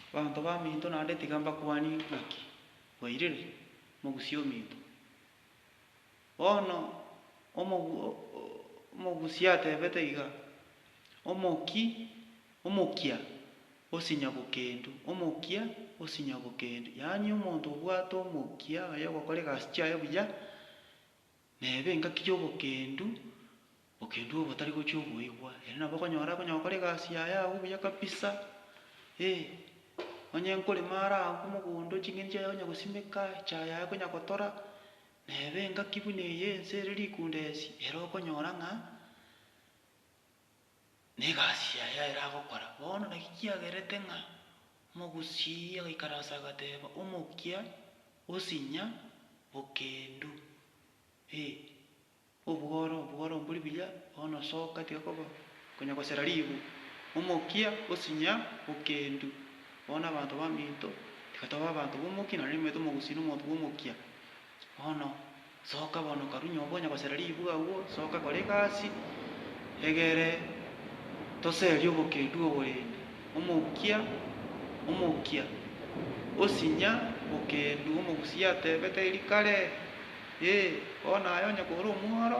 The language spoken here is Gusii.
Abanto baminto naende tiga mbakwanie ng'aki mwairire mogusie ominto. Bono omogusi atebete iga, Omoki, omokia osinya bokendu, omokia osinya bokendu. Yaani omonto obwate omokia oye ogokora egasi chiaye buya. Neba engaki y'obokendu, bokendu obotari gochia oboigwa, ere nabo okonyora konya gokora egasi yaye agwo buya kabisa, ee. Onye nkorema are agwo mogondo ching'eni chiaye konya gosimeka, echae yaye konya gotora, neba engaki buna eye ense ere rikunda esi, ere okonyora ng'a. Negasi yaye aye eragokora bono, naki kiagerete ng'a omogusii agaikara aase agateeba, Omokia, osinya bokendu, ee, obworo, obworo mbori buya, bono soka tiga koba konya gosera ribu. Omokia, osinya bokendu. Bono abanto baminto, tiga tobe abanto b'omokia, nonye nimanyete omogusii nomonto bw'omokia. Bono. Soka bono karunye obwo onya gosera ribuga agwo soka kora egasi egere toserie obokedu oborende omokia omokia osinya bokedu omogusi atebete eri kare ee bono aye onya kore omworo